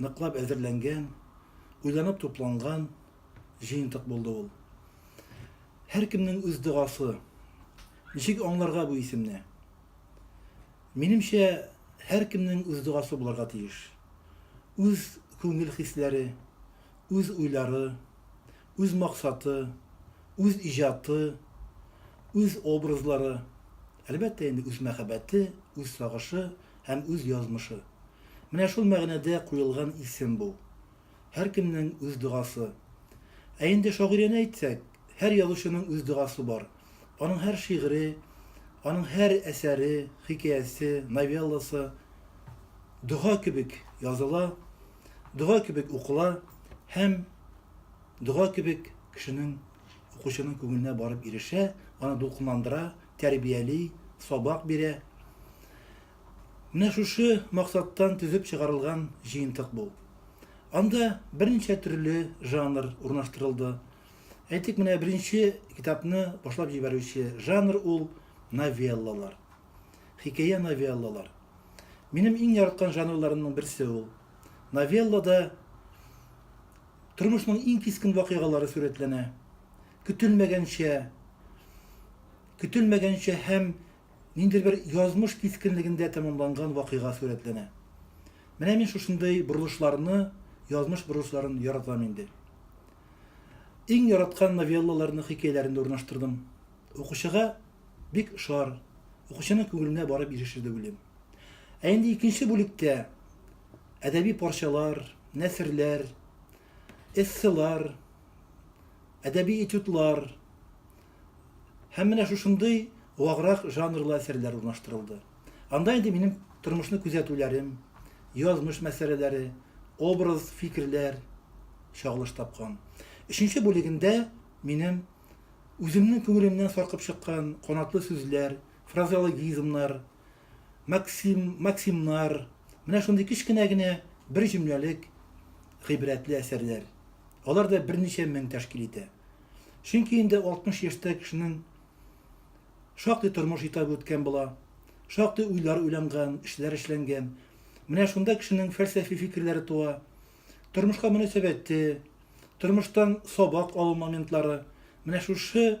Ныклап әзерләнгән, уйланып тупланган җыентык булды ул. Һәркемнең үз догасы. Ничек аңларга бу исемне? Минемчә, һәркемнең үз догасы булырга тиеш. Үз күңел хисләре, үз уйлары, үз максаты, үз иҗаты, үз образлары, әлбәттә инде үз мәхәббәте, үз сагышы, һәм үз язмышы. Менә шул мәгънәдә куелган исем бу. Һәркемнең үз догасы. Ә инде шагыйрәне әйтсәк, һәр язучының үз догасы бар. Аның һәр шигыре, аның һәр әсәре, хикәясе, новелласы дога кебек языла, дога кебек укыла һәм дога кебек кешенең, укучының күңеленә барып ирешә, аны дулкынландыра, тәрбияли, сабак бирә. Менә шушы максаттан төзеп чыгарылган җыентык бу. Анда берничә төрле жанр урнаштырылды. Әйтик, менә беренче китапны башлап җибәрүче жанр ул новеллалар. Хикәя новеллалар. Минем иң яраткан жанрларымның берсе ул. Новеллада Тормышның иң кискен вакыйгалары сурәтләнә. Көтелмәгәнчә, көтелмәгәнчә һәм ниндидер бер язмыш кискенлегендә тәмамланган вакыйга сурәтләнә. Менә мин шушындый борылышларны, язмыш борылышларын яратам инде. Иң яраткан новеллаларны хикәяләрендә урнаштырдым. Укучыга бик ошар, укучының күңеленә барып ирешер дип уйлыйм. Ә инде икенче бүлектә әдәби парчалар, нәсерләр, эсселар, әдәби этюдлар һәм менә шушындый ваграк жанрлы әсәрләр урнаштырылды. Анда инде минем тормышны күзәтүләрем, язмыш мәсьәләләре, образ, фикерләр чагылыш тапкан. Өченче бүлегендә минем үземнең күңелемнән саркып чыккан канатлы сүзләр, фразеологизмнар, максим, максимнар, менә шундый кечкенә генә бер җөмләлек гыйбрәтле әсәрләр. Алар да берничә мең тәшкил итә. Чөнки инде 60 яшьтә кешенең шактый тормыш итабы үткән була, шактый уйлар уйланган, эшләр эшләнгән. Менә шунда кешенең фәлсәфи фикерләре туа, тормышка мөнәсәбәте, тормыштан сабак алу моментлары, менә шушы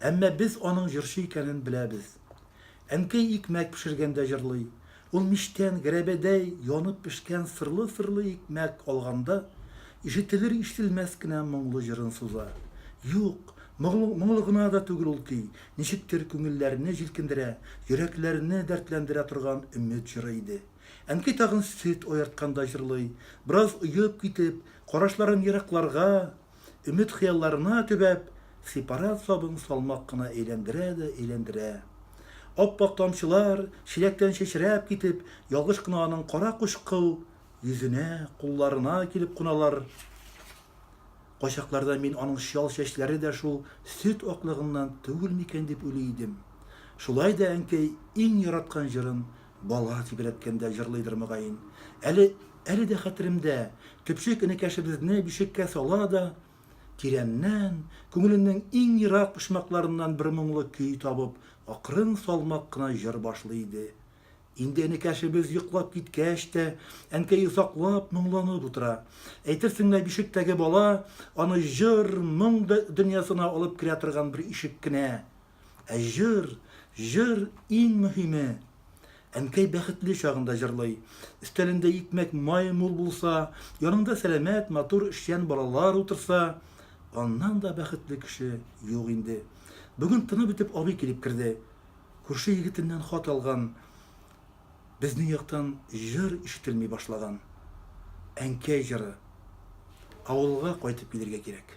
Әмма без аның җырчы икәнен беләбез. Әнкәй икмәк пешергәндә җырлый. Ул мичтән гәрәбәдәй янып пешкән сырлы-сырлы икмәк алганда, ишетелер-ишетелмәс кенә моңлы җырын суза. Юк, моңлы гына да түгел ул көй, ничектер күңелләрне җилкендерә, йөрәкләрне дәртләндерә торган өмет җыры иде. Әнкәй тагын сөт аертканда җырлый, бераз оеп китеп, карашларын еракларга, Өмет-хыялларына төбәп, сепарат сабын салмак кына әйләндерә дә әйләндерә. Ап-ак тамчылар, чиләктән чәчрәп китеп, ялгыш кына аның кара кучкыл йөзенә, кулларына килеп куналар. Кайчакларда мин аның чал чәчләре дә шул сөт аклыгыннан түгел микән дип уйлый идем. Шулай да әнкәй иң яраткан җырын Бала тибрәткәндә җырлыйдыр мөгаен. Әле, әле дә хәтеремдә, төпчек энекәшебезне бишеккә сала да, тирәннән, күңеленең иң ерак почмакларыннан бер моңлы көй табып, акрын салмак кына җыр башлый иде. Инде энекәшебез йоклап киткәч тә, әнкәй озаклап моңланып утыра. Әйтерсең лә бишектәге бала аны җыр, моң дөньясына алып керә торган бер ишек кенә. Ә җыр, җыр, иң мөһиме! Әнкәй бәхетле чагында җырлый. Өстәлендә икмәк, май мул булса, яныңда сәламәт, матур, эшчән балалар утырса, аннан да бәхетле кеше юк инде. Бүген тыны бетеп абый килеп керде. Күрше егетеннән хат алган. Безнең яктан җыр ишетелми башлаган. Әнкәй җыры. Авылга кайтып килергә кирәк.